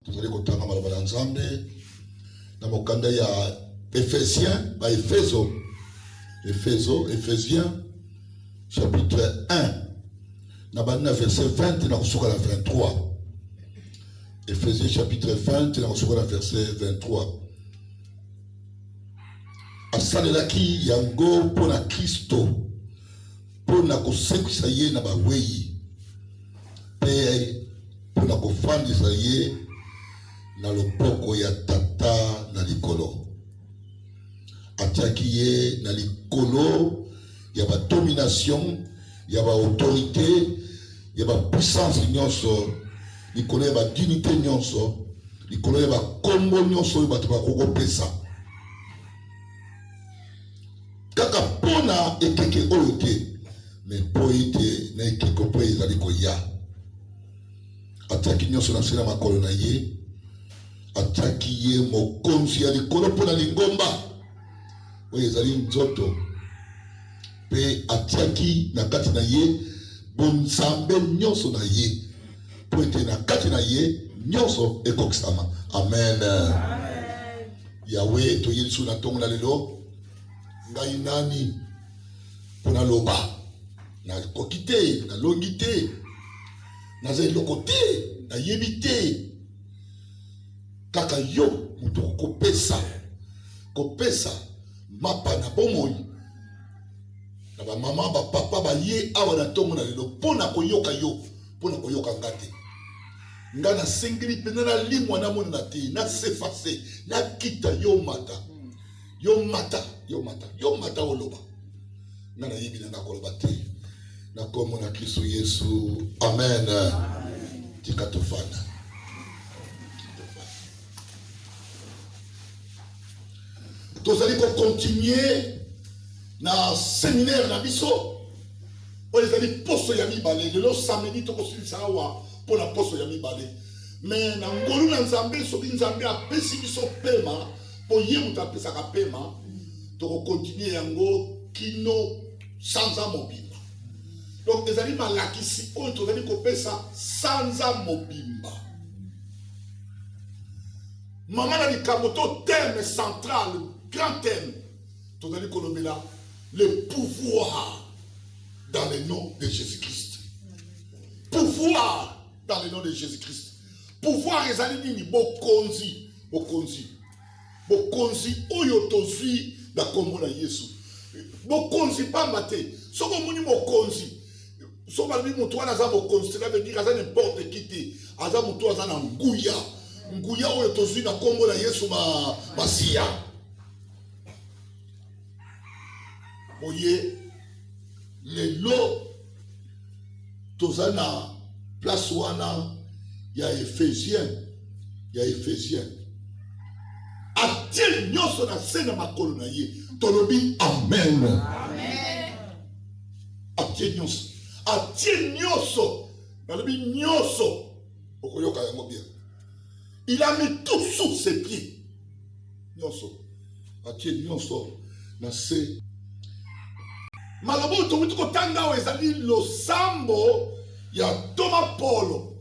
Tozali kotanga maloba na Nzambe na mokanda ya Efesien, ba Efezo, Efezo, Efesien, chapitre 1, na bandi na verset 20 na kosuka na 23. Efesien chapitre 20 na kosuka na verset 23. Asalelaki yango mpo na Kristo mpo na kosekwisa ye na bawei mpe mpo na kofandisa ye na loboko ya tata na likolo atiaki ye na likolo ya badomination ya baautorité ya bapuissance nyonso likolo ya badinite nyonso likolo ya bakombo nyonso oyo bato bakoki kopesa kaka mpo na ekeke oyo te me mpo ete na ekeko mpo ezali koya atiaki nyonso na nse na makolo na ye atiaki ye mokonzi ya likolo mpo na lingomba oyo ezali nzoto mpe atiaki na kati na ye bonzambe nyonso na ye mpo ete na kati na ye nyonso ekokisama. Amen, amen. Yawe, toye lisusu na ntongo na lelo, ngai nani mpo naloba? Nakoki te, nalongi te, naza eloko te, nayebi te. Kaka yo moto okopesa kopesa mapa na bomoi na bamama bapapa baye awa na ntongo na lelo mpo na koyoka yo mpo na koyoka nga te nga nasengeli mpenza nalimwa namona na te nasefase nakita yo mata yo mata yo mata yo mata oloba nga nayebi na nga koloba te na nkombo na kristo yesu amen, amen. tika tofanda tozali kokontinue na seminaire na biso oyo ezali poso ya mibale lelo samedi tokosilisa awa mpo na poso ya mibale me na ngolu na nzambe soki nzambe apesi biso pema mpo ye moto apesaka pema tokokontinue yango kino sanza mobimba donc ezali malakisi oyo tozali kopesa sanza mobimba mama na likambo to thème central grand thème tozali kolobela le pouvoir dans le nom de jésus-christ pouvoir dans le nom de jésus-christ pouvoir ezali nini bokonzi bokonzi Bokonzi oyo tozwi na nkombo na Yesu, bokonzi mpamba te. Soki omoni mokonzi, soki balobi moto wana aza mokonzi, cela veut dire aza n'importe qui te, aza moto aza na nguya, nguya oyo tozwi na nkombo na Yesu Masiya. boye lelo toza na place wana ya ephesien ya ephesien atie nyonso na se na makolo na ye tolobi amen, amen. atie nyonso atie nyonso nalobi nyonso okoyoka yango bien Il a mis tout sous ses pieds. Nyonso. Atie nyonso na se. Maloba oyo towuti kotanga awa ezali losambo ya ntoma Polo.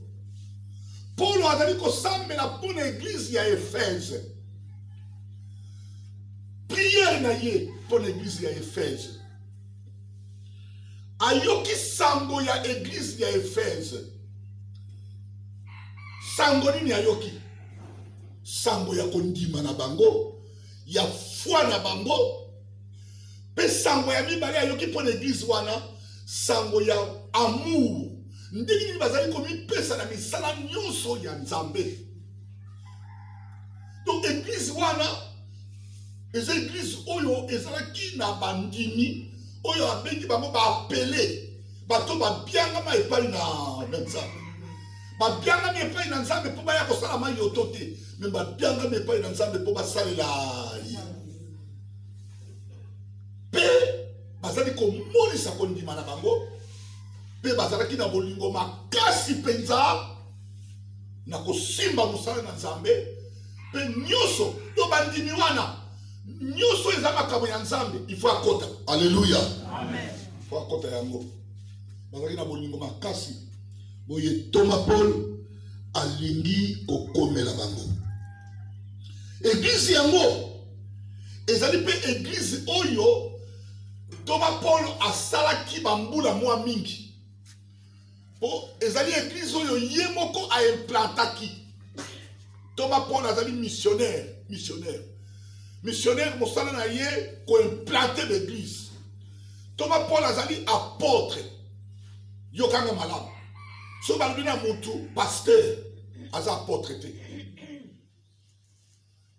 Polo azali kosambela mpo na eglize ya Efeze. Priere na ye mpo na eglize ya Efeze. ayoki sango ya eglize ya efese sango nini ayoki sango ya kondima na bango ya foi na bango mpe sango ya mibale ayoki mpo na eglize wana sango ya amour ndenge nini bazali komipesa na misala nyonso ya nzambe donc eglize wana eza eglise oyo ezalaki na bandimi oyo abengi bango baapele bato babiangama epai na nzambe babiangami epai na nzambe mpo baya kosala mai yoto te me babiangami epai na nzambe mpo basalela ye mpe bazali komonisa kondima na bango mpe bazalaki na bolingo makasi mpenza na kosimba mosala na nzambe mpe nyonso to bandimi wana nyonso eza makambo ya nzambe ifo akota aleluya fo akota yango bazalaki na bolingo makasi boye toma paul alingi kokomela bango eglize yango ezali mpe eglize oyo toma paul asalaki bambula mwa mingi po ezali eglise oyo ye moko aimplantaki toma paul azali missionnaire missionnaire missionnaire mosala na ye koimplante baeglise toma paul azali apotre yokanga malamu soki balobi na motu pasteur aza apotre te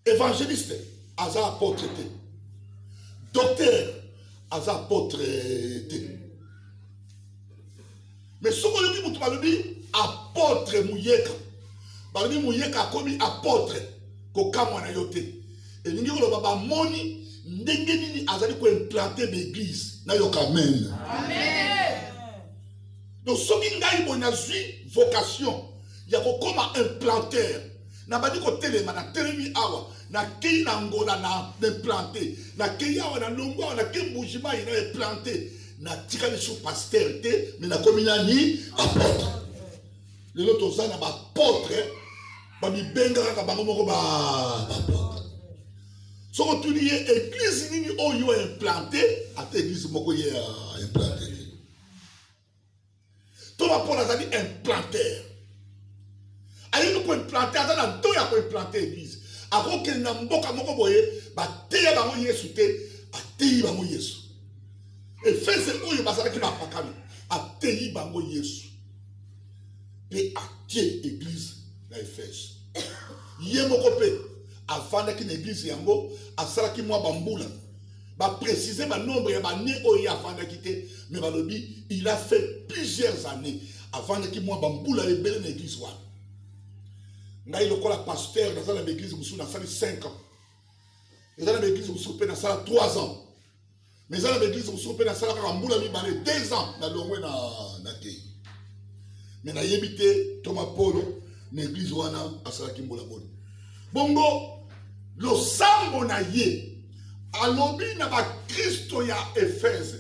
Evangeliste aza apotre te. Docteur aza apotre te. Mais soki oyoki moto balobi apotre muyeka, balobi muyeka akomi apotre, kokamwa na yo te. Elingi koloba bamoni ndenge nini azali koimplante baeglise nayoka amen. Amen. Donc soki ngai boye nazwi vocation ya kokoma implanter nabandi kotelema natelemi awa nakei na ngola na eplante nakei awa na longo awa nakei mbujimayi na eplante natika lisu paster te me nakomi nani apotre lelo toza na bapotre bamibenga kaka bango moko bapotre soki otuni ye eglize nini oyo implante ata eglize moko ye implante to bapona azali implanter alingi koimplante aza na to ya koimplante eglise akokende na mboka moko boye bateya bango yesu te ateyi bango yesu efese oyo bazalaki bapakami ateyi bango yesu mpe atie eglise na efese ye moko mpe afandaki na eglise yango asalaki mwa bambula Ba préciser ba nombre ya ba ne oyo afandaki te mais balobi il a fait plusieurs années afandaki mwa ba mbula ebele na église wana. Ngai lokola pasteur naza na église mosusu nasali 5 ans. Eza na église mosusu mpe nasala 3 ans. Mais eza na église mosusu mpe nasala kaka mbula mibale 2 ans na longwe na na te. Mais nayebi te Thomas Paulo na église wana asalaki mbula boni. bongo losambo na ye alobi na bakristo ya efese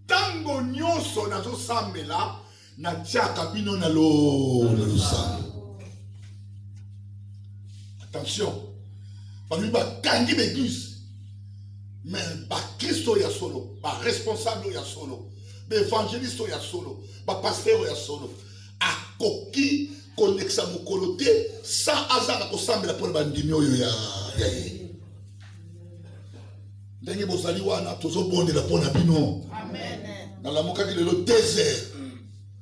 ntango nyonso nazosambela natiaka bino na losambo attention balobi bakangi baeglise me bakristo ya solo baresponsable oyo ya solo baevangeliste oyo ya solo bapastere oyo ya solo akoki kolekisa mokolo te sa azanga kosambela mpo na bandimi oyo ya ye ndenge bozali wana tozobondela mpo na bino nalamukaki lelo desert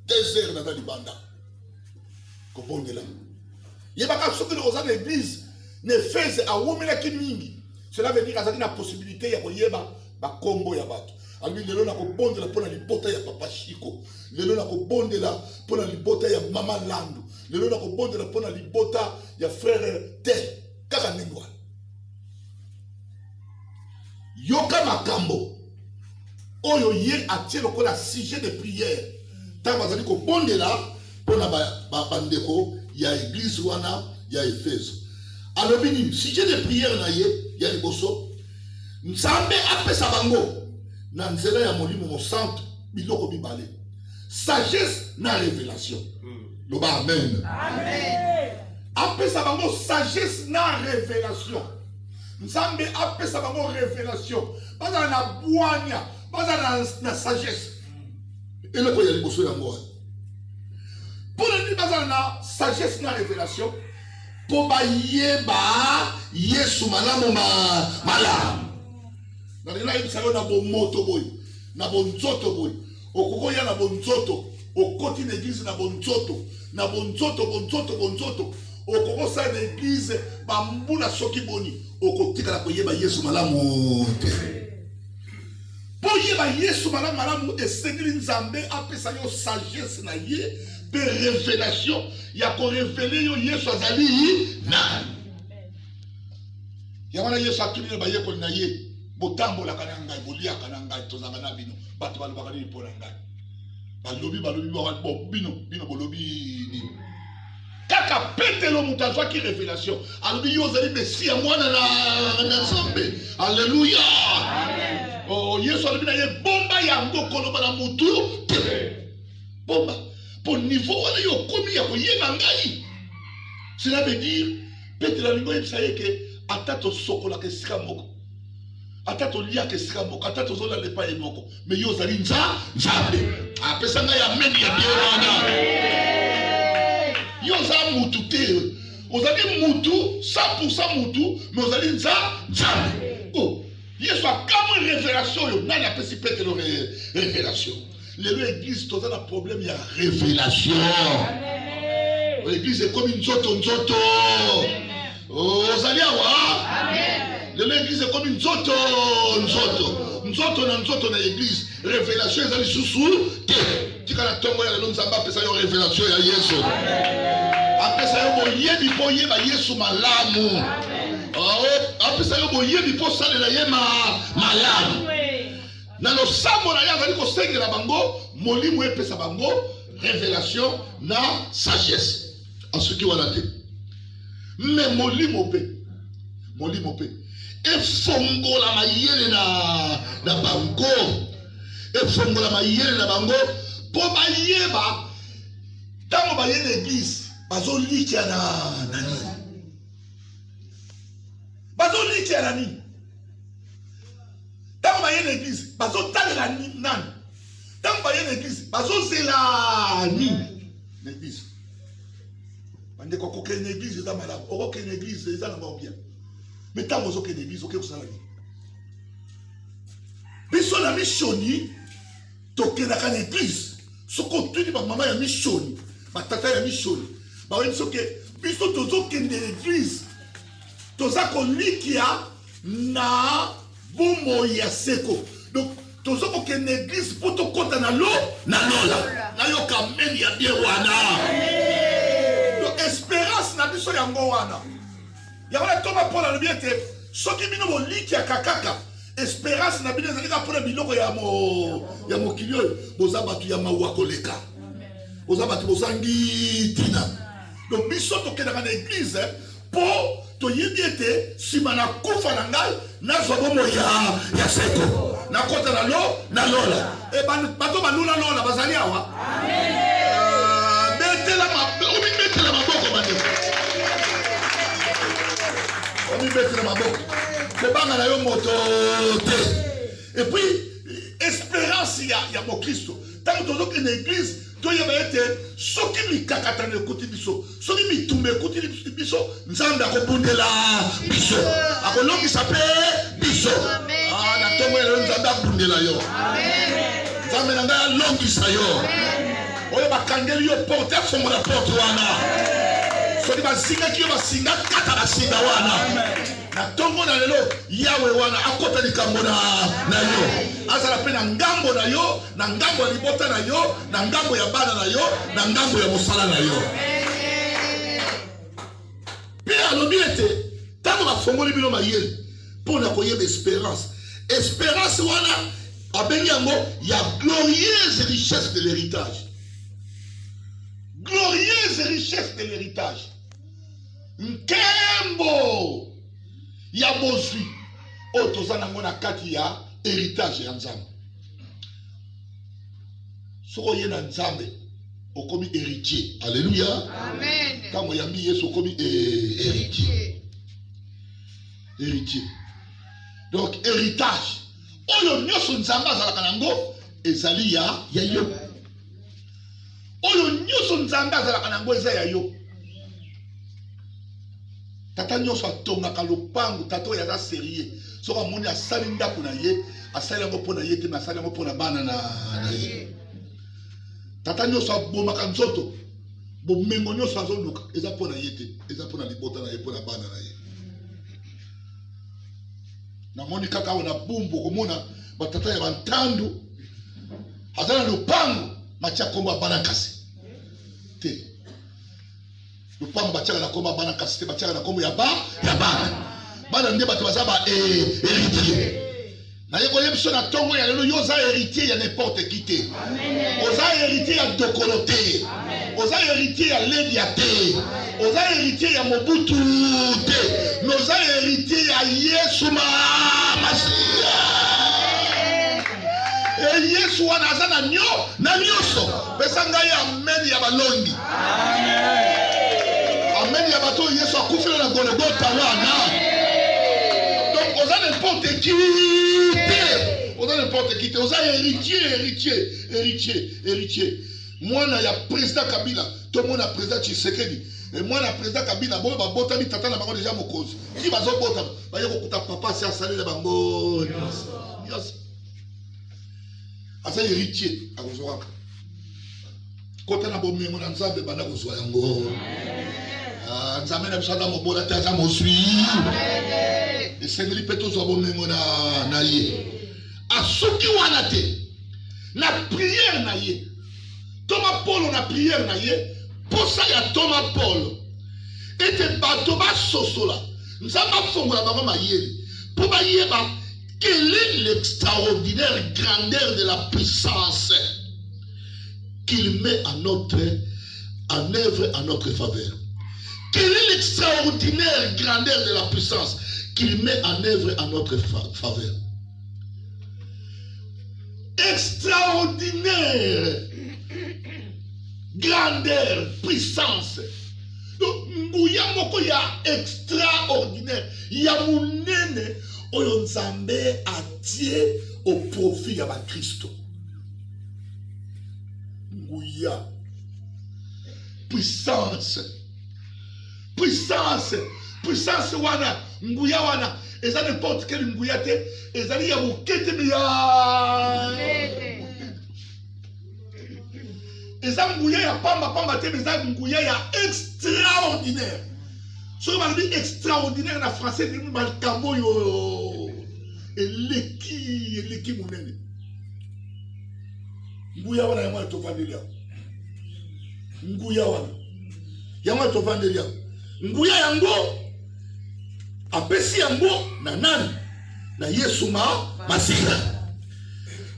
desert naza libanda kobondela yebaka soki oza na eglise na efese awumelaki mingi cela veut dire azalaki na possibilité ya koyeba bakombo ya bato alobi lelo nakobondela mpo na libota ya papa shiko lelo nakobondela mpo na libota ya mama landu lelo nakobondela mpo na libota ya frere te kaka ndenge wana yoka makambo oyo ye atie lokola sujet de prière ntango azali kobondela mpo na bandeko ba, ba ya eglize wana ya efeso alobi nini sujet de prière na ye ya liboso Nzambe apesa bango na nzela ya Molimo Mosantu biloko mibale, sagesse na revelation. Hmm. Loba amen. Amen. Apesa bango sagesse na revelation. Nzambe apesa bango revelation. Bazala na bwanya, bazala na, na sagesse. Hmm. Eloko ya liboso yango wana. Mpo na nini bazala na sagesse na revelation? mpo bayeba Yesu malamu ma malamu. Nalingi nayebisa yo na bomoto boye, na bonzoto boye, okoki koya na bonzoto, okoti na eglize na bonzoto, na bonzoto, bonzoto, bonzoto, okoki kosala na eglize bambula soki boni, okotikala koyeba Yesu malamu te. Mpo oyeba Yesu malamu malamu, esengeli Nzambe apesa yo sagesse na ye mpe revelation ya korevele yo Yesu azali nani. Yango wana Yesu atuni na bayekoli na ye, botambolaka na ngai, boliaka na ngai, tozalaka na bino, bato balobaka nini mpo na ngai? balobi balobi bino bino bolobi nini kaka petelo moto azwaki revelation alobi yo ozali mesiya mwana na nzambe alleluya oh, yesu alobi na ye bomba yango koloba na motu te bomba mpo nivo wana yo okomi ya koyeba ngai cela veut dire petelo alingi oyebisa ye ke ata tosokolaka esika moko ata toliaka esika moko ata tozolala epai moko me yo ozali nza nzambe apesa ngai ameni ya bie wana yo oza mutu te ozali mutu 100 mutu me ozali nza nzambe oh, yesu akamwe revelation oyo nani apesi petelo revelation lelo eglise toza na problème ya révélation eglise ekomi nzoto nzoto oh, ozali awa lelo eglise ekomi nzoto nzoto nzoto na nzoto na eglise révélation eza lisusu te tikala ntongo ya lelo nzambe apesa yo révélation ya yesu apesa yo boyebi mpo oyeba yesu malamu oh, apesa yo boyebi mpo osalela ye malamu Na losambo na ye azali kosengela bango Molimo epesa bango revelation na sagesse. Asuki wana te, me Molimo mpe Molimo mpe efongola mayele na, na bango efongola mayele na bango mpo bayeba ntango baye na eglise bazolikya na na nini bazolikya na nini ntango baye na eglise bazotalela nani ntango baye na eglise bazozela nini na eglise bandeko kokende na eglise eza malamu okokende na eglise eza na bango bien me ntango ozokende na eglise oke kosala nini biso na misioni tokendaka na eglise soki otuni bamama ya misioni batata ya misioni bayebi soki biso tozokende na eglise toza kolikia na bomoi ya seko donc toza kokende eglise mpo tokɔta na lo na lola nayoka meme ya bie wana donc esperance na biso yango wana yango na toma mpo nalobi ete soki bino bolikiaka kaka esperance na bino ezali kaka mpo na biloko ya, mo, ya mokili oyo boza bato ya mawa koleka boza bato bozangi ntina donc biso tokendaka na eglize mpo toyebi ete nsima na kufa na ngai nazwa bomoi ya, ya seko nakota na lo na lola e, bato balula lola bazali awa ah, betela omibetela maboko bandeko omibetela maboko kobanga na yo moto te epuis esperance ya, ya mokristo ntango tozokende eglize toyeba ete soki mikakatano ekuti biso soki mitumba ekuti biso nzambe akobundela biso akolongisa mpe biso ah, na ntongo ya lelo nzambe abundela yo nzambe na ngai alongisa yo oyo bakangeli yo porte afongola porte wana soki bazingaki yo basinga kata basinga wana na ntongo na lelo yawe wana akota likambo na yo azala mpe na ngambo na yo na ngambo ya libota na yo, na ngambo ya bana na yo, na ngambo ya mosala na yo. Mpe alobi ete ntango bafongoli bino mayele mpo na koyeba esperance, esperance wana abengi yango ya glorieuse richesse de l'héritage glorieuse richesse de l'héritage nkembo ya bozwi oyo toza nango na kati ya héritage ya nzambe soki oye na nzambe okomi héritier alleluya ntango oyambi yesu okomi héritier héritier donc héritage oyo nyonso nzambe azalaka na yango ezali ya ya yo oyo nyonso nzambe azalaka na yango eza ya yo tata nyonso atongaka lopango tata oyo aza serie soki amoni asali ndako na ye asali yango mpo na ye te me asali yango mpo na bana na ye tata nyonso abomaka nzoto bomengo nyonso azoluka eza mpo na ye te eza mpo na libota na ye mpo na bana na ye namoni kaka awa na bumbu okomona batata ya bantandu aza na lopango matya nkombo ya bana kasi te lopango batyaka na nkombo ya bana kasi te batyaka na nkombo ya ba ya bana bana nde bato baza ba heritier naye koye biso na ntongo ya lelo yo oza heritier ya n'importe qui te oza heritier ya dokolo te oza héritier ya Ledia te, oza héritier ya Mobutu te, mais oza héritier ya Yesu Masiya. E Yesu wana aza na nyo na nyonso. Pesa ngai amen ya balongi. Amen ya bato Yesu akufela na Golgotha wana. Donc oza n'importe qui te, oza n'importe qui te, oza héritier, héritier, héritier, héritier. mwana ya president kabila to mwana president tshisekedi e mwana ya president kabila boyo babotami tata na bango deja mokonzi ti bazobotama baye kokuta papa si asali na bango nyonso aza héritier akozwaka kota na bomengo na nzambe banda kozwa yango ah, nzambe na biso aza mobola te aza mozwi esengeli mpe tozwa bomengo na ye asuki wana te na priere na ye ntoma polo na priere na ye mposa ya ntoma polo ete bato basosola nzambe afongola bango mayele mpo bayeba quelle est l'extraordinaire grandeur de la puissance qu'il met à notre en œuvre à notre faveur quelle est l'extraordinaire grandeur de la puissance qu'il met en œuvre à notre faveur extraordinaire grandeur puissance donc nguya moko ya extraordinaire ya monene oyo nzambe atie au profit ya bakristo nguya puissance puissance puissance wana nguya wana eza n'importe quelle nguya te ezali ya moke te ya eza nguya ya pamba pamba te eza nguya ya extraordinaire soki balobi extraordinaire na français elimi makambo oyo eleki eleki monene nguya wana yango wana tofandeli yango nguya wana yango wana tovandeli yango nguya yango apesi yango na nani na yesu ma masiya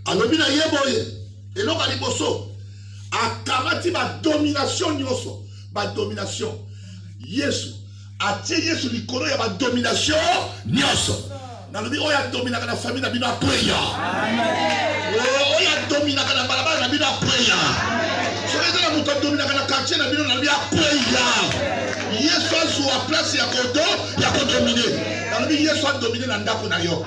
alobi na ye boye eloko ya liboso akamati badomination nyonso badomination yesu atie yesu likolo ya badomination nyonso nalobi oyo adominaka na famille na bino akweya oh, oyo adominaka na balabala na bino akweya soki eza na moto adominaka na quartier na bino nalobi akweya yesu azwa place ya kodo ya kodomine nalobi yesu adomine na ndako na yo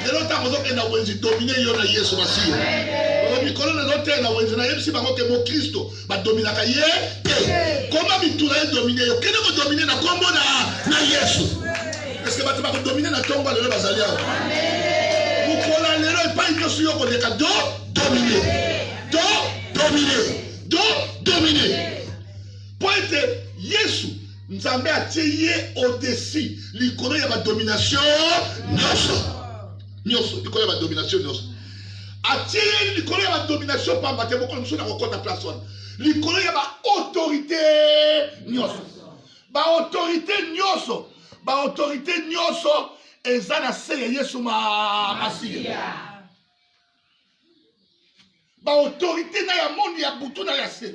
lelo ntango ozokenda wenzi domine yo na yesu masiya mikolo nazoteya na wenzi nayebisi bango ke mokristo badominaka ye te koma mituna ye domine yo kende kodomine na nkombo na yesu eske bato bakodomine na ntongo lelo bazali awa mokolo ya lelo epai nyonso yo koleka do domine do domine do domine mpo ete yesu nzambe atie ye odesi likolo ya badomination nyonso nyoso likolo ya ba domination nyoso atie ye likolo ya ba domination pamba te mokolo mosusu nakokota place wana likolo ya ba autorité nyoso ba autorité nyoso ba autorité nyoso eza na se ya yesu masiya baautorité na ya monde ya butu na ya se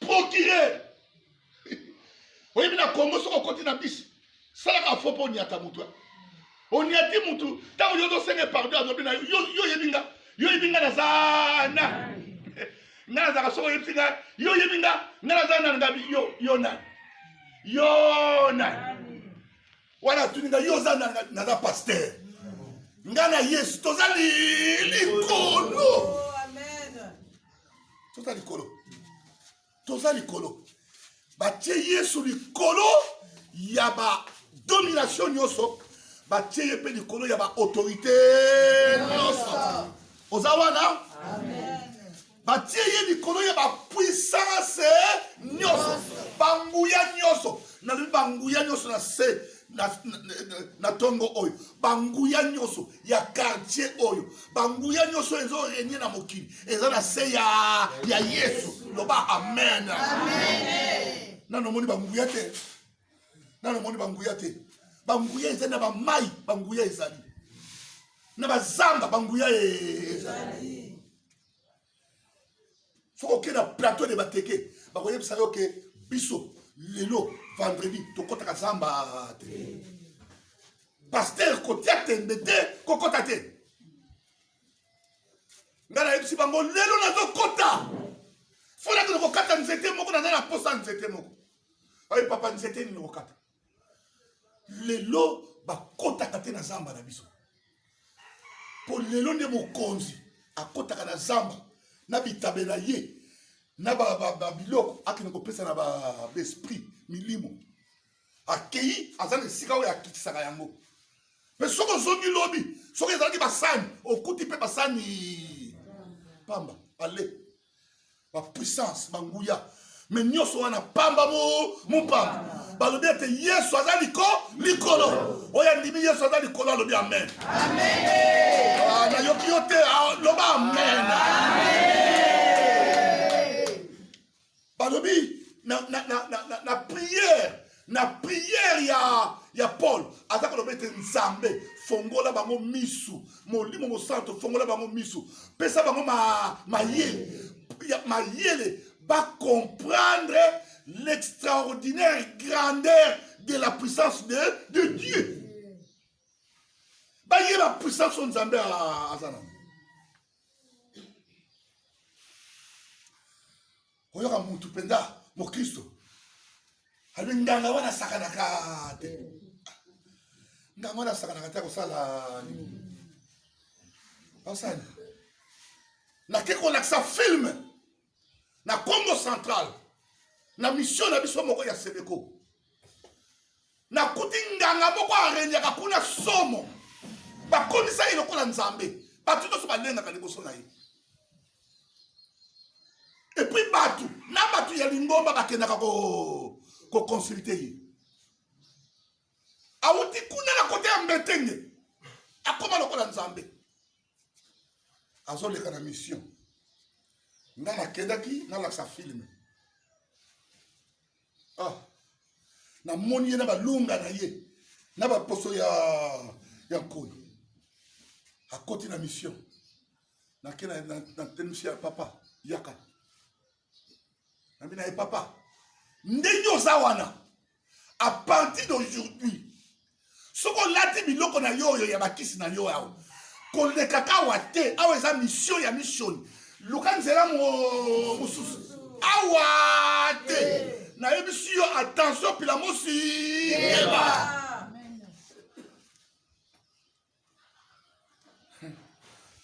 procureur oyebi na congo soki okoti na bisi salaka fo mpo onyata motu eh. onyati motu ntango yo ozosenga pardon azobi na yo yo oyebi nga yo oyebi nga naza na nga nazalaka soki oyebisi nga yo oyebi nga nga naza nani ngabi yo yo nani yo nani wana atuni nga yo oza naza paster nga na yesu toza likolo toza likolo toza likolo batie yesu likolo ya badomination nyonso batie ye mpe likolo ya baautorité nyonso oza wana batie ye likolo ya bapuissance nyonso banguya nyonso nalobi banguya nyonso na se na ntongo oyo banguya nyonso ya quartier oyo banguya nyonso ezo renye na mokili eza na se ya, ya yesu loba amen, amen. nano omoni banguya te nano omoni banguya te banguya ezali na bamai banguya ezali na bazamba banguya e- ezali soki okei na plateau de bateke bakoyebisa yo ke biso lelo vendredi tokɔtaka zamba te paster kotia tembe te kokɔta te ngai nayebisi bango lelo nazokɔta fonakende kokata nzete moko naza na mposa nzete moko oye papa nzete nini okokata lelo bakotaka te na zamba na biso mpo lelo nde mokonzi akotaka na zamba na bitabe na ye na babiloko akende kopesa na baesprit milimo akei aza na esika oyo akitisaka yango mpe soki ozongi lobi soki ezalaki basani okuti mpe basani pamba ale ba puissance ba nguya me nyonso wana pamba mopamba balobi ete yesu aza liko likolo oyo andimi yesu aza likolo alobi amen ah, nayoki yo te ah, loba amen balobi na priere na priere ya, ya paul aza koloba ete nzambe fongola bango misu molimo mosanto fongola bango misu pesa bango ma, mayele mayele bacomprendre l'extraordinaire grandeur de la puissance de, de dieu bayeba puissance oyo nzambe aza nango koyoka mutu mpenza mokristo alobi nganga wana asakanaka te nganga wana asakanaka te akosala nini basani nake kolakisa filme na congo central na mission na biso moko ya sebeko nakuti nganga moko arenyaka kuna somo bakomisa ye lokola nzambe bato nyonso balengaka liboso na ye epuis bato na bato ya lingomba bakendaka koconsulte ye awuti kuna na kote ya mbetenge akoma lokola nzambe azoleka na mission nga nakendaki nalakisa filme ah namoni ye na balunga na ye na baposo ya ya nkoi akoti na mission nake natelemisi ya papa yaka nabi na ye papa ndenge oza wana a partir d'aujourd'hui soki olati biloko na yo oyo ya bakisi na yo awa kolekaka awa te awa eza misio ya misioni luka nzela mosusu awa te nayebisi yo attention pilamosi yeba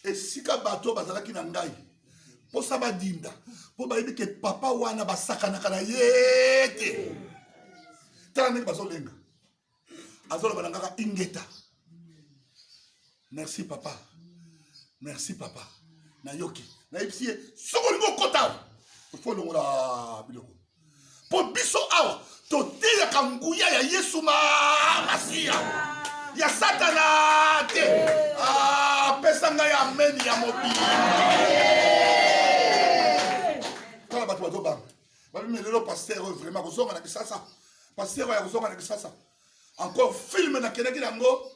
esika bato oyo bazalaki na ngai mposa badinda mpo bayebi ke papa wana basakanaka na ye te tala ndenge bazolenga azoloba na ngaka ingeta merci papa merci papa nayoki nayebisi ye soki olingi okota ofo olongola biloko mpo biso awa toteyaka nguya ya yesu masiya ya satana te apesa ah, ngai ameni ya mobimba tala bato bazobanga babimi lelo paster oyo vraiment kozonga na kisasa paster oyo ya kozonga na kisasa encore filme nakendaki yango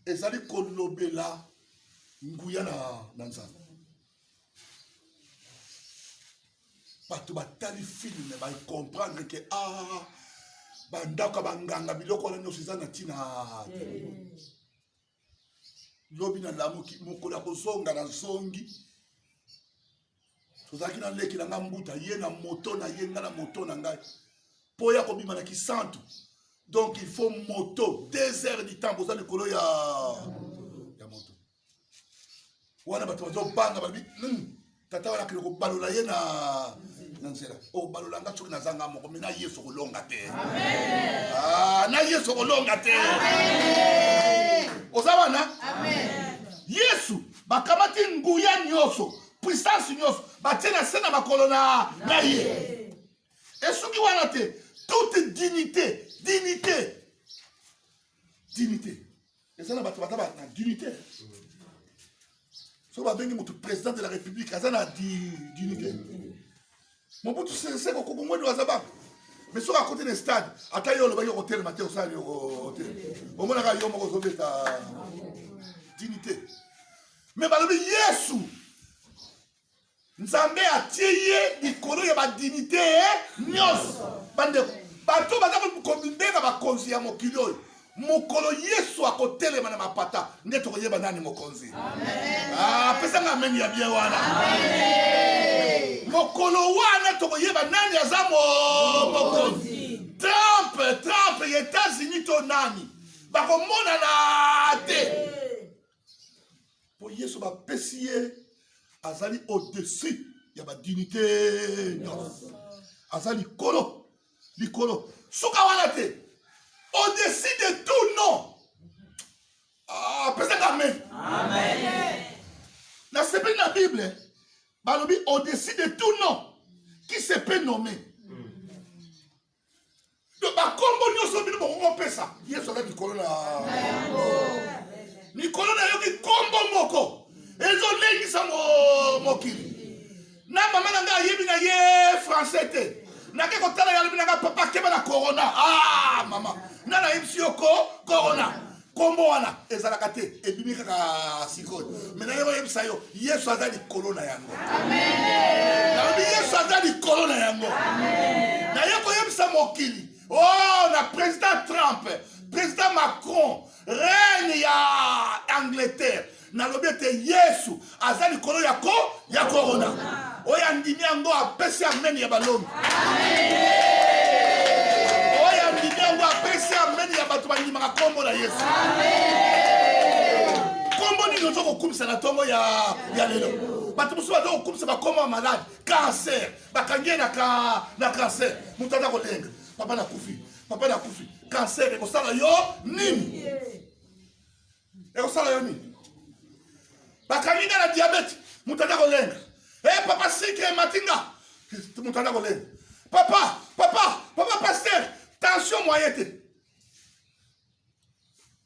ezali kolobela nguya na, na nzambe bato batali filme bacomprendre ke a ah, bandako ya banganga biloko wana nyonso eza na ntina te mm. lobi nalamuki mokolo ya kozonga nazongi tozalaki na leki na ngai mbuta ye na moto na ye ngai na moto na ngai mpo ya kobima na kisantu donc il faut moto deux heures du temps boza likolo ya wana bato bazobanga balobi hmm, tata wana akende kobalola ye na na nzela obalola oh, nga soki naza nga moko me na yesu kolonga te ah, na yesu kolonga te oza wana yesu bakamati nguya nyonso puissance nyonso batie na se na makolo na na ye esuki wana te toute dignité dignité dignité eza na bato baza na dignité soki babengi motu président de la république aza na dignité mobutu seseko kokongwedu aza bana mais soki akote na stade ata yo olobaki okotelema te osala yoko te omonaka yo moko ozobeta dignité mais balobi yesu nzambe atie ye likolo ya badinite nyonso bandeko bato baza komibenga bakonzi ya mokili oyo mokolo yesu akotelema na mapata nde tokoyeba nani mokonzi ah, apesanga ameni ya bie wana mokolo wana tokoyeba nani aza mokonzi trump trump ya etats-unis to nani bakomonana te mpo yesu bapesi ye azali au-dessus ya badinite nyonso aza likolo likolo suka wana te au-dessus de tout non apesaka ah, amen nasepeli na bible balobi au-dessus de tout non qui se peut nommer bakombo nyonso bino bokokopesa yesu aza likolo na likolo na yoki kombo moko ezolengisa mokili na mama na ngai ayebi na ye français te nake kotala yalobi na ngai papa keba na corona ah mama nga nayebisi yo ko corona nkombo wana ezalaka te ebimi kaka sikoyo me naye oyebisa yo yesu aza likolo na yango nayebi yesu aza likolo na yango naye koyebisa mokili o oh, na president trump president macron reine ya angleterre nalobi ete yesu aza likolo ya ko ya korona oyo andimi yango apesi ameni ya balongi oyo andimi yango apesi ameni ya bato bandimaka nkombo na yesu nkombo nini oza kokumisa na ntongo ya, ya lelo bato mosusu baza kokumisa bakombo ya malade kancer bakangi ye na, ka, na kancer moto aza kolenga papa nakufi papa nakufi kancer ekosala yo nini ekosala yo nini bakangi nga na diabete moto aza kolenga e eh, papa sikre emati nga moto aza kolenga papa papa papa paster tension moye te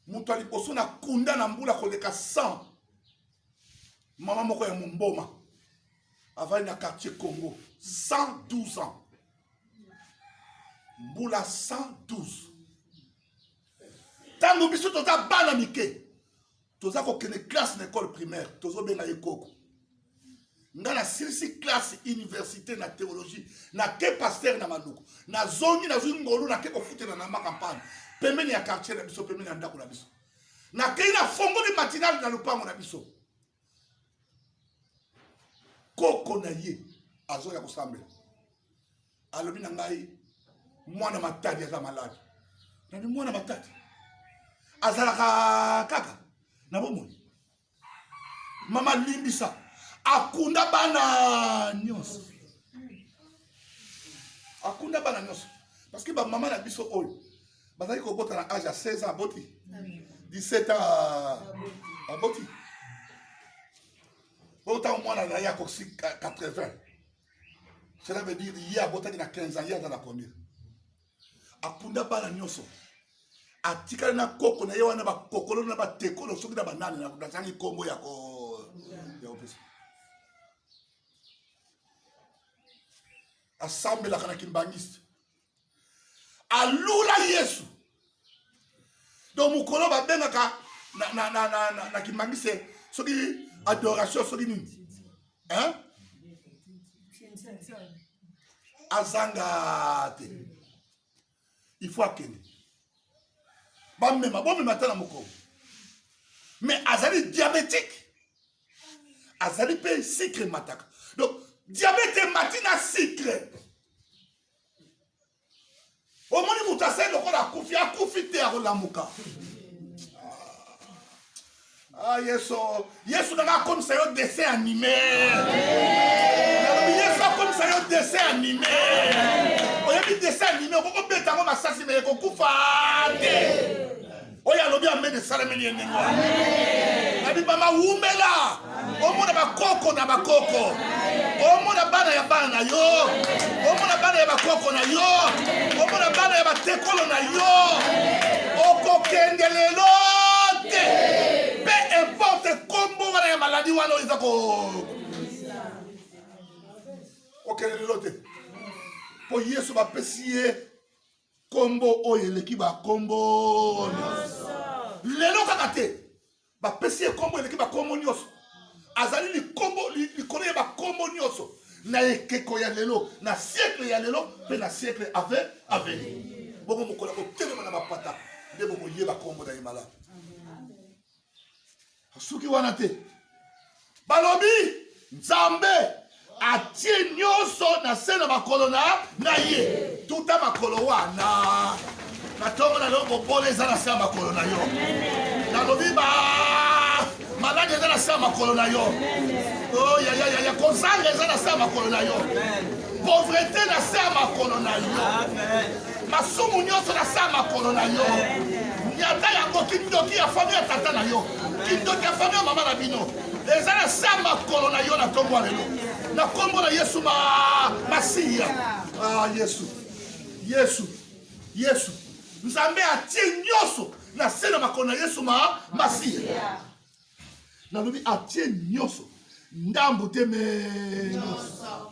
moto ya liboso na kunda na mbula koleka 100 mama moko ya momboma avandi na quartier congo 112 ans mbula 112 ntango biso toza bana mike toza kokende classe na ekole primaire tozobenga ye koko nga nasilisi classe université na théologie nake paster na manduku nazongi nazwi ngolu nake kofutela na mba kampagne pembeni ya quartier na biso pembeni ya ndako na biso nakei na fongoli matinale na lopango na biso koko na ye azoya kosambela alobi na ngai mwana matadi aza maladi nabi mwana matadi azalaka kaka na bomoi mama limbisa akunda bana nyonso akunda bana nyonso parce que bamama na biso oyo bazali kobota na age ya 16 ans aboti 17 ans aboti oyo ntango mwana na ye akosi 80 cela veut dire ye abotaki na 15 ans ye aza na combien akunda bana nyonso atikali na koko na ye wana bakokolo na batekolo soki na banani nazangi nkombo ya kopesa asambelaka na kimbangiste alula yesu donc mokolo babengaka na, na, na, na, na, na kimangise soki adoration soki nini hein? azanga te il faut akende bamema bomema ata na mokolo mais azali diabétique azali mpe sucre emataka donc diabete emati na sucre omoni moto asali lokola akufi akufi te akolamuka ah, ah yesu yesu nanga akomisa yo dessin anime yesu akomisa yo dessin anime oyebi dessin anime okoki obeta yango masasi me ekokufa te oyo alobi amen esalemeli ye ndenge wana nabibama wumela omona bakoko na bakoko omona bana ya bana na yo omona bana ya bakoko na yo omona bana ya batekolo na yo okokende lelo te pe importe kombo wana ya maladi wana oyo eza ko okende lelo te mpo yesu bapesi ye Kombo oyo eleki ba kombo nyonso. Lelo kaka te. Bapesi ye kombo eleki ba kombo nyonso. Azali likombo likolo ya ba kombo nyonso na ekeko ya lelo, na siècle ya lelo mpe na siècle ave aveni. Bongo mokolo ya kotelema na mapata nde bokoyeba kombo na ye malamu. asuki wana te balobi nzambe atie nyonso na se na makolo na na ye tuta makolo wana na ntongo na leo bobola eza na se ya makolo na yo nalobi ba maladi eza na se ya makolo na yo oh, yayayaya kozanga eza na se ya makolo na yo pauvreté na se ya makolo na yo masumu nyonso na saa makolo na yo nyata yango kindoki ya fami ya tata na yo kindoki ya fami ya mama na bino eza na saa makolo na yo na ntongo ya lelo na nkombo na yesu ma masiya ah, yesu yesu yesu nzambe atie nyonso na se na makolo na yesu ma masiya nalobi atie nyonso ndambo te me nyonso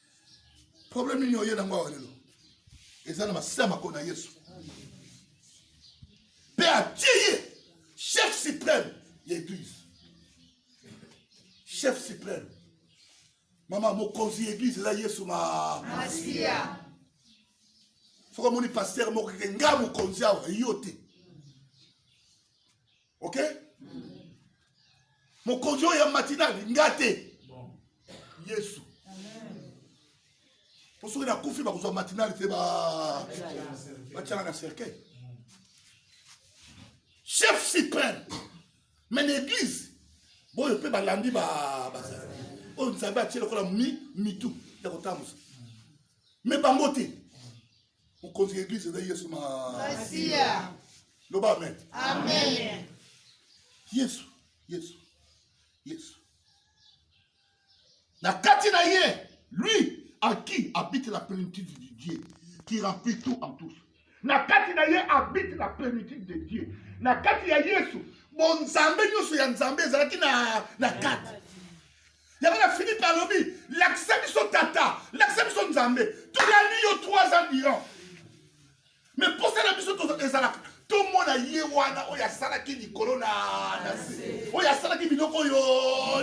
problème nini oye nango awa lelo eza na masisa makolo na yesu mpe atie ye chef suprême ya église chef suprême mama mokonzi ya église eza yesu masiya soki omoni paster moko keke nga mokonzi awa yo te ok mokonzi oyo ya matinale nga te yesu mpo soki nakufi bakozwa matinale te batyanga na cercueil chef supreme mais na église boyo mpe balandi bazali oyo nzambe atie lokola mitu ya kotambusa mais bango te mokonzi ya eglise eza yesu masiya loba amen amen yesu yesu yesu na kati na ye lui à qui habite la plénitude de dieu qui remplit tout en tous na kati na ye habite la plénitude de dieu na kati ya yesu bonzambe nyonso ya nzambe ezalaki na, na kati yango na philippe alobi lakisa biso tata lakisa biso nzambe toyani yo 3 ans durant me mposa na biso ezalaka tomona ye wana oyo asalaki likolo na nase oyo asalaki biloko oyo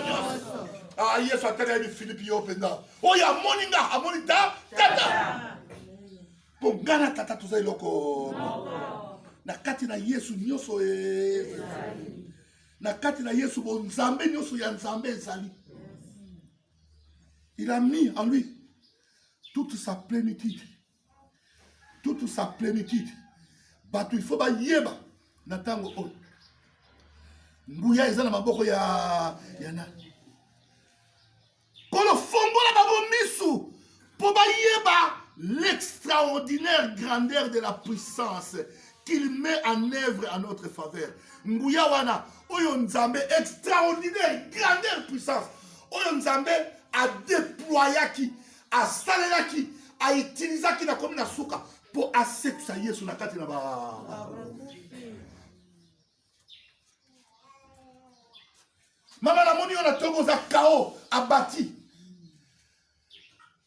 nyonso ah, yesu atali yebi philippe yo mpenza oyo amoni nga amoni ta tata mpo nga na tata toza eloko na kati na yesu nyonso e Na kati na Yesu bo Nzambe nyoso ya Nzambe ezali. Il a mis en lui toute sa plénitude. Toute sa plénitude. Bato il faut bayeba na ntango oyo nguya eza na maboko ya ya nani Nkolo, fongola bango misu mpo bayeba l'extraordinaire grandeur de la puissance qu'il met en œuvre à notre faveur. Nguya wana oyo Nzambe extraordinaire grandeur puissance oyo Nzambe a déployaki, asalelaki, a utilisaki na komi na suka mpo asekisa Yesu na kati na ba mama namoni yo na tongo oza kao abati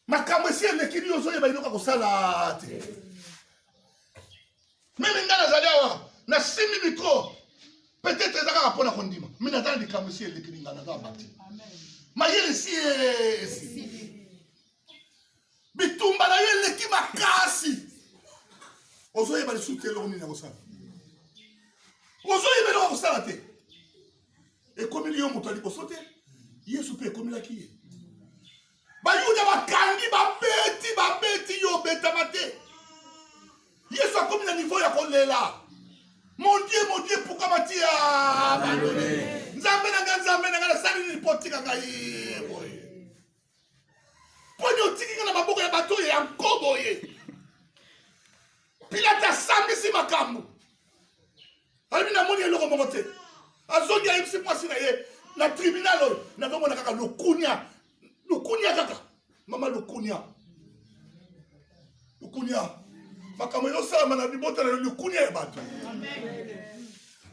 makambo esi eleki nini ozoyeba eloko ya kosala te mimi ngai nazali awa nasimbi mikro peut-être eza kaka mpo na kondima mi naza na likambo esi eleki ninga naza abati mayele esi esi bitumba na yo eleki makasi ozoyeba lisusu te eloko nini akosala ozoyeba eloko akosala te ekomeli yo moto ya liboso te yesu mpe ekomelaki ye bayuda bakangi babeti babeti yo obetama te yesu akomi na nivo ya kolela mon dieu mon dieu pourquoi mati abandone nzambe na ngai nzambe na ngai nasali nini mpo otika ngai boye poni otiki nga na maboko ya bato oyo ya nkobo ye pilate asambisi makambo alobi namoni eloko moko te azongi ayebisi mwasi na ye na tribunal oyo nazomona kaka lokunia lokunia kaka mama lokunia lukunia makambo ezosalama na libota na yo likunia ya bato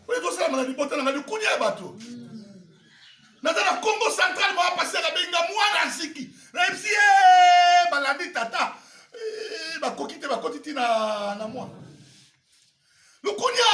oyo ezosalama na libota na nga likunia ya bato naza na congo central moya pasi akabenga mwana aziki nayebisi ye eh, balandi tata eh, bakoki te bakoti ti na mwana lukunia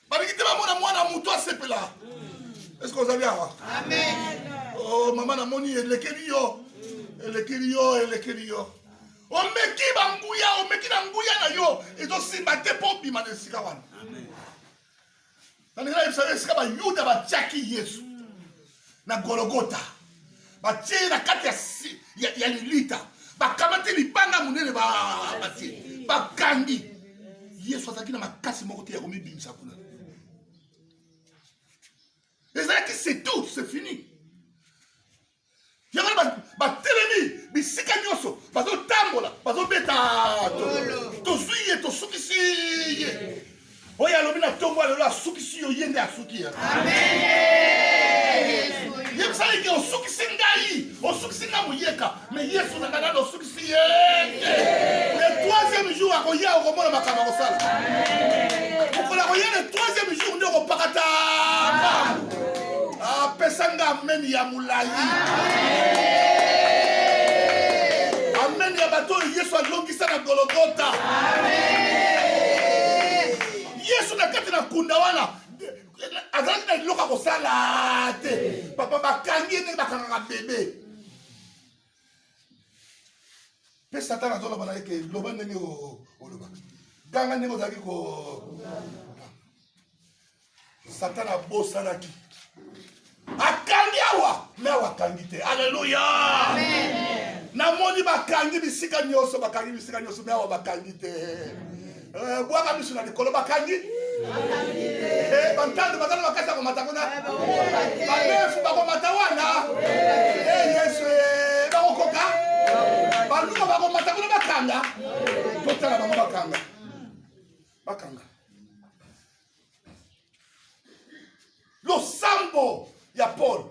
balingi te bamona mwana moto asepela eske ozali awa oh, mama namoni elekeli yo elekeli yo elekeli yo omeki banguya omeki na nguya na yo ezosimba te mpo obima na esika wana nalingi nayebisa yo esika bayuda batyaki yesu na gologota batie na kati ya, ya lilita bakamati libanga monene batie bakangi yesu azalaki na makasi moko te ya komibimisa kuna ezalaki c'est tout c'est fini yango batelemi bisika nyonso bazotambola bazobeta tozwi ye tosukisi ye Oyo alobi na ntongo ya lelo asukisi yo, ye nde asuki. Yebisa ye ke osukisi ngai, osukisi ngai moyeka, me Yesu na ngai nano osukisi ye te. Le troisième jour akoya, okomona makambo akosala. Mokolo akoya le troisième jour nde okopakata bango. Apesa ah, nga ameni ya molai. Ameni ya bato oyo Yesu alongi Isa na Gologota. Yesu na kati na kunda wana azalaki na eloko ya kosala te papa bakangi ye ndenge bakangaka bebe mpe satana azoloba na ye ke loba ndenge olobaka ganga ndenge ozalaki ko satana abosanaki akangi awa me awa akangi te aleluya namoni bakangi bisika nyonso bakangi bisika nyonso me awa bakangi te eh, bwaka miso na likolo bakangi eh, bantando bazali bakasi ya komata kuna eh, banefu bakomata wana yesu bakokoka baluma bakomata kuna bakanga totala bango bakanga bakanga losambo ya pole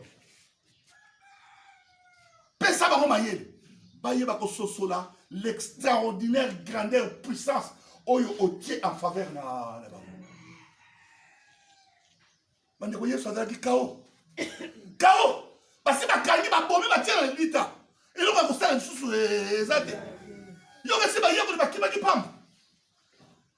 pesa bango mayele bayeba kososola l'extraordinaire grandeur puissance oyo otie en faveur na, na bango bandeko yesu azalaki kao kao basi bakangi babomi batie na lilita eloko ya kosala lisusu eh, eza te yo kasi bayekoli bakimaki pamba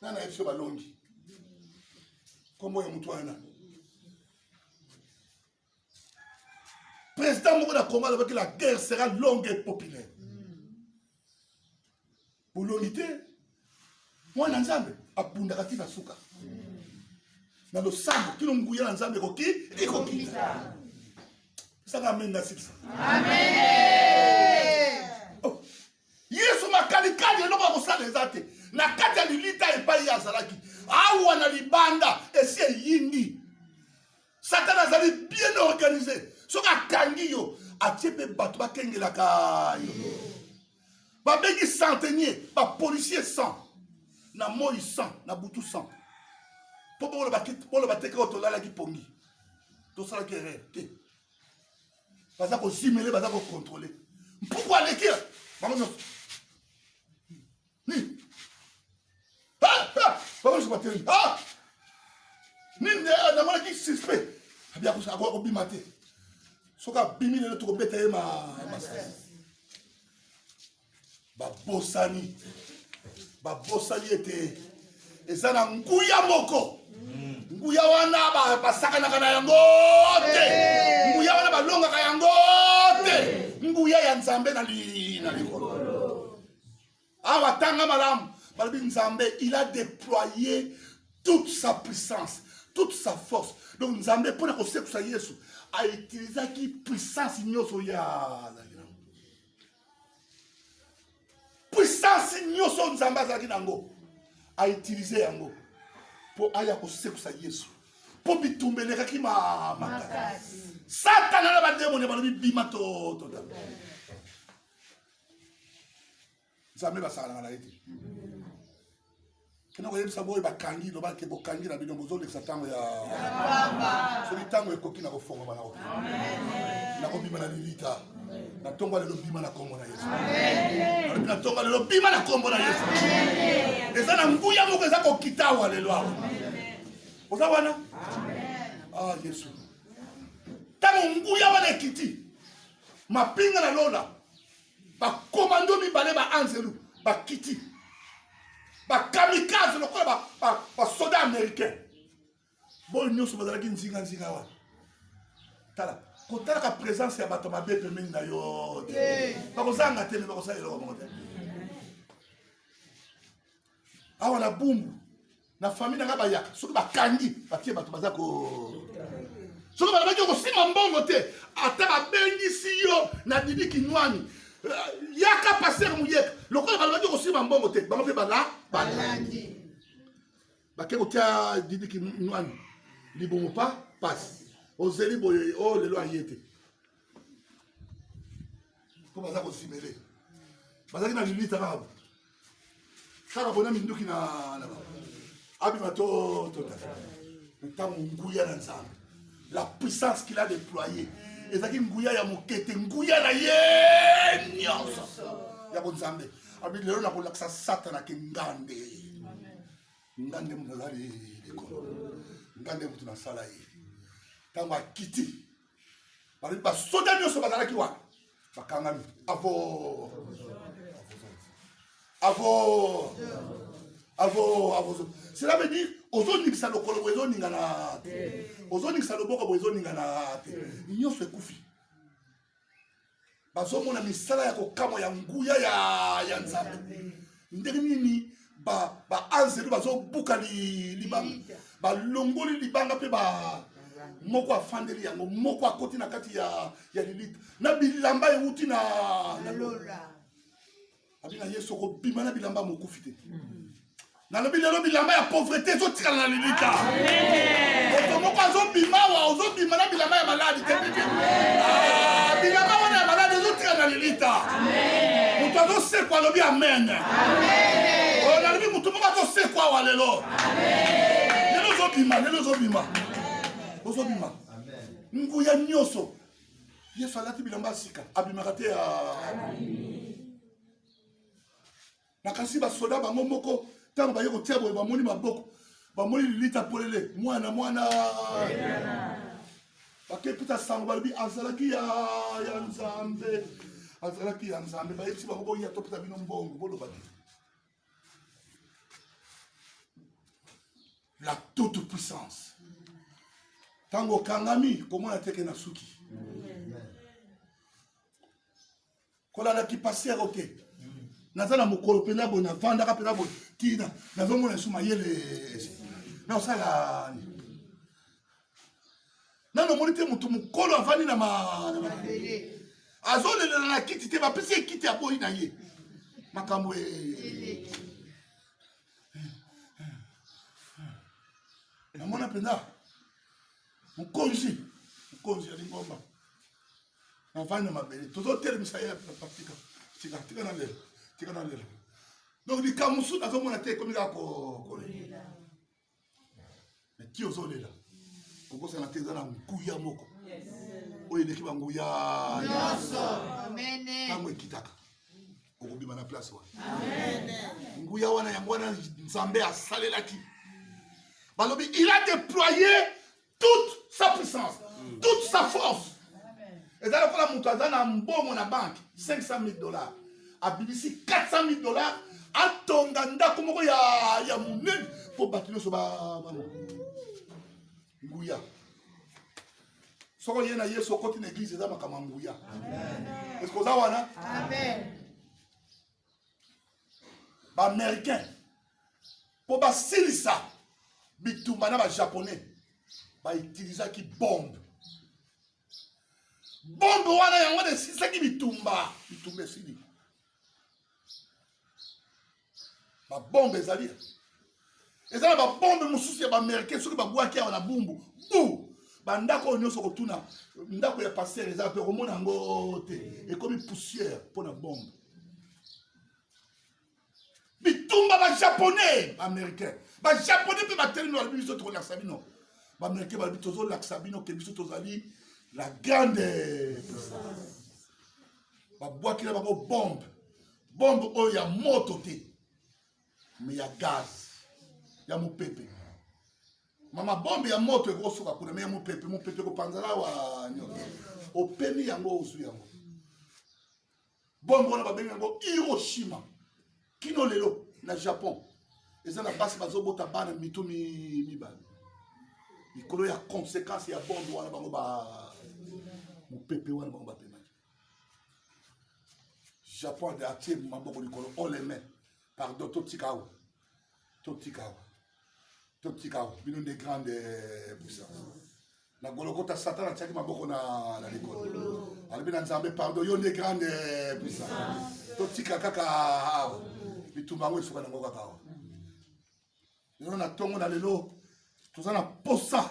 na na biso balongi nkombo ya motu wana président moko na congo alobaki la guerre sera longue et populaire bolongi te mwana nzambe abundaka ti na suka na losambo kino nguya na nzambe ekoki ekokita saka amen nasilisa amen yesu makalikali eloko ya kosala eza te na kati ya lilita epai ye azalaki awa na libanda esi eyindi satana azali bien organise soki akangi yo atie mpe bato bakengelaka yo babengi centenier bapolicier 100 na moi 100 na butu 100 mpo boloba teke oyo tolalaki pongi tosalaki erreur te baza kozimele baza kokontrole mpuku aleki bango nyonso nini bango nyonso batelemi nini namonaki suspect akobima te soki abimi lelo tokobeta ye masasi babosani babosani ete eza na nguya moko nguya wana basakanaka na yango te nguya wana balongaka yango te nguya ya nzambe na likolo awa tanga malamu balobi nzambe il a déployé toute sa puissance toute sa force donc nzambe mpo na kosekisa yesu autilisaki puissance nyonso ya puissance nyonso nzambe azalaki na yango autilize yango mpo aya kosekwisa yesu mpo bitumba elekaki makasi satana na bademoni balobi bima totota nzambe basakanaka na ye te kino koyebisa boye bakangi loba ke bokangi na bino bozolekisa ntango ya soki ntango ekoki na kofongama na kokima na kobima na lilita na ntongo lelo bima na nkombo na yesu alobi na ntongo lelo bima na nkombo na yesu eza na nguya moko eza kokita awa lelo awa oza wana ah yesu ntango nguya wana ekiti mapinga na lola bakomando mibale baanzelu bakiti bakamikaze lokola basoda américain boyo nyonso bazalaki nzinganzinga wana tala kotalaka présence ya bato mabe pembeni na yo te bakozanga te me bakosala eloko moko te awa na bumbu na famille nanga bayaka soki bakangi batie bato baza ko soki balobaki okosima mbongo te ata babengisi yo na didi kinwani euh, yaka paster muyeka lokola balobaki okosima mbongo te bango mpe bala balandi bake kotia didi kinwani libumu pa pasi ozeli boye o oh, lelo aye te mpo baza kosimele bazalaki na lilita kaka kaka bona minduki na abima to tota ntango nguya na nzambe la puissance qu'il a déployée ezalaki nguya ya moke te nguya na ye nyonso ya bonzambe abi lelo nakolakisa satana ke ngande ngande moto azali likolo ngande moto nasala ye ntango akiti balobi basoda nyonso bazalaki wana bakangami avo avo avo avo cela veut dire ozoningisa lokolo boye ezoningana te ozoningisa loboko boye ezoningana te nyonso ekufi bazomona misala ya kokamwa ya nguya ya, ya nzambe ndenge nini baanzelu ba bazobuka li, libanga balongoli libanga mpe ba moko afandeli yango moko akoti na kati ya, ya lilita na bilamba euti na, na lola abi na yesu okobima na bilamba mokufi te nalobi lelo bilamba ya pauvrete ezotikala na lilita moto moko azobima wa ozobima na bilamba ya maladi te ah, bilamba wana ya maladi ezotikala na lilita moto azosekwa alobi amen oyo oh, nalobi moto moko azosekwa wa lelo lelo ozobima lelo ozobima ozobima nguya nyonso yesu alati bilamba ya sika abimaka te nakanisi basoda bango moko ntango baye kotia boye bamoni maboko bamoni lilita polele mwana mwana bakekuta sango balobi azalaki ya ya nzambe azalaki ya nzambe bayebisi bango boya topesa bino mbongo bolobaki la toute puissance ntango okangami komona teke na suki kolanda kipasi yako te naza na mokolo mpenza boye navandaka mpenza boye tina nazomona esu mayele naosalani nano omoni te motu mokolo avandi na mabele azolelela na kiti te bapesi ye kiti aboyi na ye makambo e namona mpenza mokonzi mokonzi ya lingomba navandi na mabele tozotelemisa ye patika tika tika na lelo tika na lelo donc likambo mosusu nazomona te ekomi kaka kolela ti ozolela kokosana te eza na nguya moko oyo eleki banguya nyonso ntango ekitaka okobima na place wana nguya wana yango wana nzambe asalelaki balobi il a déployé toute sa puissance toute sa force eza lokola moto aza na mbongo na banke 500 000 dollars abimisi 400 000 dollars atonga ndako moko ya, ya monene mpo bato nyonso bamona nguya soko ye na yesu okoti na eglize eza makambo ya nguya eske oza wana baaméricain mpo basilisa bitumba na bajaponais bautilisaki bombe bombe wana yango wana esilisaki bitumba bitumba esili babombe ezali eza na babombe mosusu ya baamericain soki babwaki awa na bumbu bu bandako oyo nyonso kotuna ndako ya paster eza mpe komona yango te ekomi poussière mpo na bombe bitumba bajaponais baamericain bajaponais mpe batelemi balobi biso tokolakisa bino baamericain balobi tozolakisa bino ke biso tozali la grande babwakela bango bombe bombe oyo ya moto te me ya gaz ya mopepe mama bombe ya moto ekosuka kuna me ya mopepe mopepe ekopanzana wa nyonso opemi yango ozwi yango bombe wana babengi yango hiroshima kino lelo na japon eza na basi bazobota bana mito mibale likolo ya conséquence ya bombe wana bango ba mopepe wana bango bapemaki japon de atie maboko likolo oleme pardon totika awa totika awa totika awa bino nde grande eh, puissance na golokota satan atiaki maboko na, na likolo alobi na nzambe pardon yo nde grande eh, puissance totika kaka awa bitumba yango esuka nango kaka awa lelo na ntongo na lelo toza na posa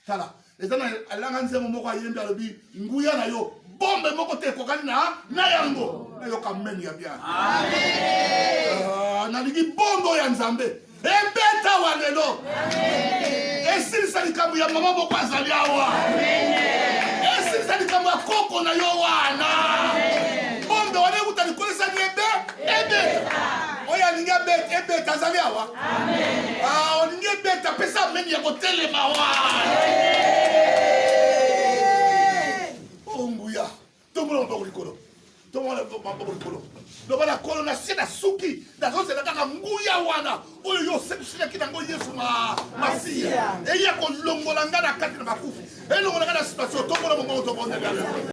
tala eza na alanga nzembo moko ayembi alobi nguya na yo bombe moko te ekokani na na yango nayoka meme ya bien ah, nalingi bombo ya nzambe ebeta wa lelo esilisa likambo ya mama moko azali awa esilisa likambo ya koko na yo wana ebeta oyo alingi abeta ebeta azali awa ah, olingi ebeta pesa ameni ya kotelema wa onguya tomona maboko likolo tomona maboko likolo loba na kolo na se na suki nazozela kaka nguya wana oyo yo osekisilaki nango yesu masiya eye kolongola ngai na kati na bakufi elongola ngai na situatio tomona moboko tobondela